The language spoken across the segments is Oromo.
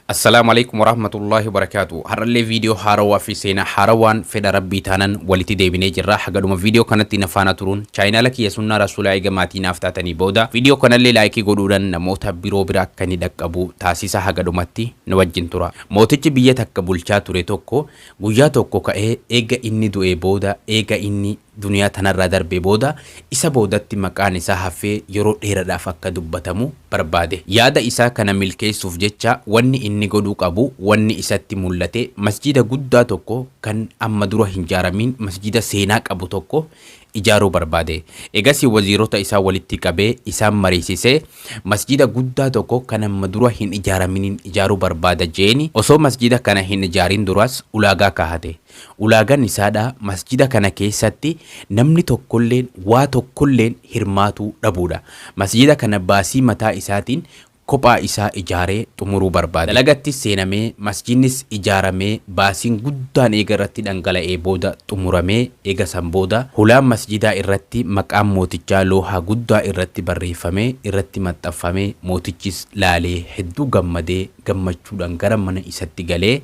Assalaamu alaikum warahmatullahi wabarakaatu. Har'allee viidiyoo haarawaa fi seenaa haarawaan fedha rabbii taanan walitti deebinee jirra. Hagadhuma viidiyoo kanatti na faana turuun chaayinaala kiyya sunnaa rasuulaa eega maatii naaf taatanii booda viidiyoo kanallee laayikii godhuudhaan namoota biroo bira akka inni dhaqqabu taasisa hagadhumatti na wajjin tura. Mootichi biyya takka bulchaa ture tokko guyyaa tokko ka'ee eega inni du'ee booda eega inni duniyaa tanarraa darbee booda isa boodatti maqaan isaa hafee yeroo dheeradhaaf akka dubbatamu barbaade. Yaada isaa kana milkeessuuf jecha wanni inni godhuu qabu wanni isatti mullate masjiida guddaa tokko kan amma dura hin jaaramiin masjiida seenaa qabu tokko ijaaruu barbaade. Egasii waziirota isaa walitti qabee isaan mariisisee masjiida guddaa tokko kan amma dura hin ijaaraminiin ijaaruu barbaada jeeni osoo masjiida kana hin ijaariin duras ulaagaa kaahate. Ulaagan isaadha masjida kana keessatti namni tokkolleen waa tokkolleen hirmaatuu dhabuudha. Masjida kana baasii mataa isaatiin kophaa isaa ijaaree xumuruu barbaade. Dalagattis seenamee masjidnis ijaaramee baasiin guddaan eega irratti dhangala'ee booda xumuramee eega san booda hulaan masjidaa irratti maqaan mootichaa loohaa guddaa irratti barreeffamee irratti maxxanfame mootichis laalee hedduu gammadee gammachuudhan gara mana isatti galee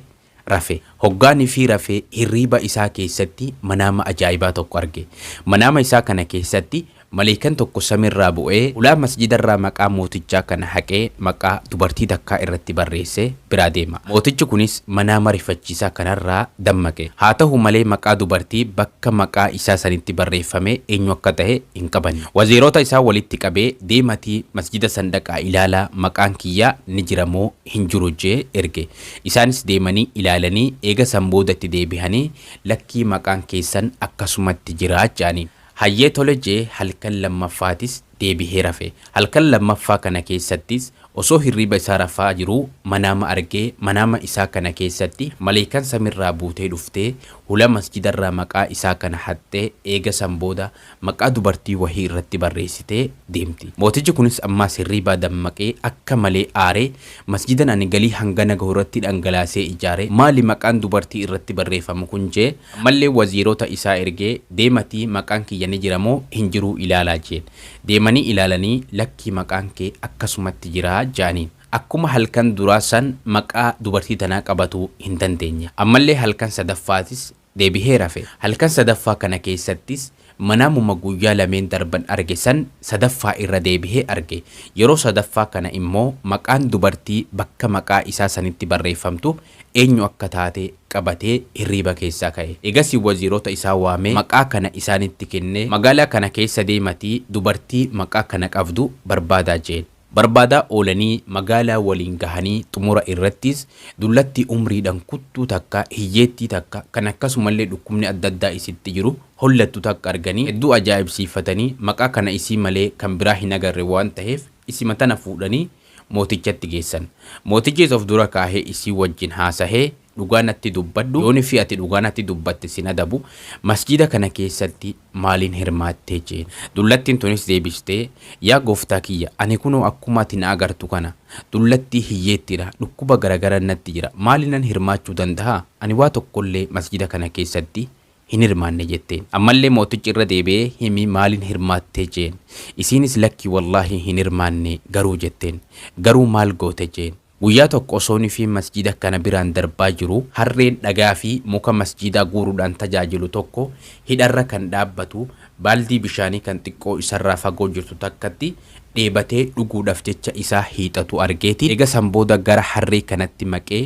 rafe. Hoggaa nfi rafe hirriiba isaa keessatti manaama ajaa'ibaa tokko arge. Manaama isaa kana keessatti maleeykan tokko samirraa bu'ee hulaa masjidarraa maqaa mootichaa kana haqee maqaa dubartii takkaa irratti barreesse biraa deema. Mootichi kunis manaama rifachiisaa kanarraa dammaqe. Haa tahu malee maqaa dubartii bakka maqaa isaa sanitti barreeffame eenyu akka tahe hin qabanne. Waziiroota isaa walitti qabee deematii masjida san dhaqaa ilaalaa maqaan kiyyaa ni jira moo hin jiru je'ee erge. Isaanis deemanii ilaalanii eega san booda itti deebihanii lakkii maqaan keessan akkasumatti jira je'aniin. Hayyee tole je'ee halkan lammaffaatis deebihee rafe. Halkan lammaffaa kana keessattis osoo hirriiba isaa rafaa jiruu manaama argee manaama isaa kana keessatti maleeykan samirraa buutee dhuftee hula masjidarraa maqaa isaa kana haxxee eega san booda maqaa dubartii wahii irratti barreessitee deemti. Mootichi kunis ammaas hirriibaa dammaqee akka malee aaree, Masjidan ani galii hangana gahu irratti dhangalaasee ijaare maali maqaan dubartii irratti barreeffamu kun jee ammallee waziirota isaa ergee deematii maqaan kiyya ni jira moo hin jiruu ilaalaa jeen. Deemanii ilaalanii lakkii maqaan kee akkasumatti jira jaaniin. Akkuma halkan duraa san maqaa dubartii tanaa qabatuu hin dandeenye. Ammallee halkan sadaffaatis deebihee rafe. Halkan sadaffaa kana keessattis manaamuma guyyaa lameen darban arge san sadaffaa irra deebihee arge. Yeroo sadaffaa kana immoo maqaan dubartii bakka maqaa isaa sanitti barreeffamtu eenyu akka taate qabatee hirriiba keessaa ka'e. Eegasii waziirota isaa waamee maqaa kana isaanitti kennee, magaalaa kana keessa deematii dubartii maqaa kana qabdu barbaadaa jeen. Barbaadaa oolanii magaalaa waliin gahanii xumura irrattis dullattii umriidhan kuttuu takka, hiyyeettii takka, kan akkasumallee dhukkubni adda addaa isitti jiru hollattu takka arganii hedduu ajaa'ibsiifatanii maqaa kana isii malee kan biraa hin agarre waan taheef isima tana fuudhanii mootichatti geessan. Mootichis of dura kaahee isii wajjin haasahee. Dhugaa natti dubbadhu, yoon fi ati dhugaa natti dubbatte sin adabu, masjiida kana keessatti maaliin hirmaattee? jeen. Dullattiin tunis deebistee, Yaa gooftaa kiyya, ani kunoo akkuma ati na agartu kana, dullattii hiyyeettiidha, dhukkuba garagaran natti jira, maaliinan hirmaachuu dandaha? Ani waa tokkollee masjiida kana keessatti hin hirmaanne jetteen. Ammallee mootichi irra deebi'ee, Himi maaliin hirmaattee? jeen. Isiinis, Lakki wallaahi hin hirmaanne, garuu jetteen. Garuu maal goote? jeen. Guyyaa tokko osoo nifii masjiida kana biraan darbaa jiru harreen dhagaa fi muka masjiidaa guuruudhaan tajaajilu tokko hidharra kan dhaabbatu baaldii bishaanii kan xiqqoo isarraa fagoo jirtu takkatti dheebatee dhuguudhaf jecha isaa hiixatu argeeti eega san booda gara harree kanatti maqee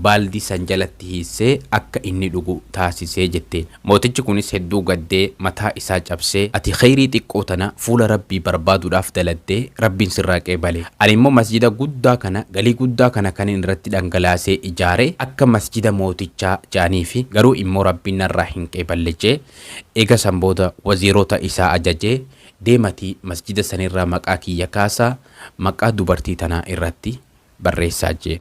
baaldii san jalatti hiissee akka inni dhugu taasise jette. Mootichi kunis hedduu gaddee, mataa isaa cabsee, Ati kheyrii xiqqoo tana fuula Rabbii barbaaduudhaaf daladde, Rabbiin sirraa qeebale. Ani immoo masjida guddaa kana, galii guddaa kana kanin irratti dhangalaasee ijaare, akka masjida mootichaa je'aniifi, garuu immoo Rabbiin narraa hin qeeballe je'e. Eega san booda waziirota isaa ajajee, Deematii masjida sanirraa maqaa kiyya kaasaa, maqaa dubartii tanaa irratti. barreessaa jeen.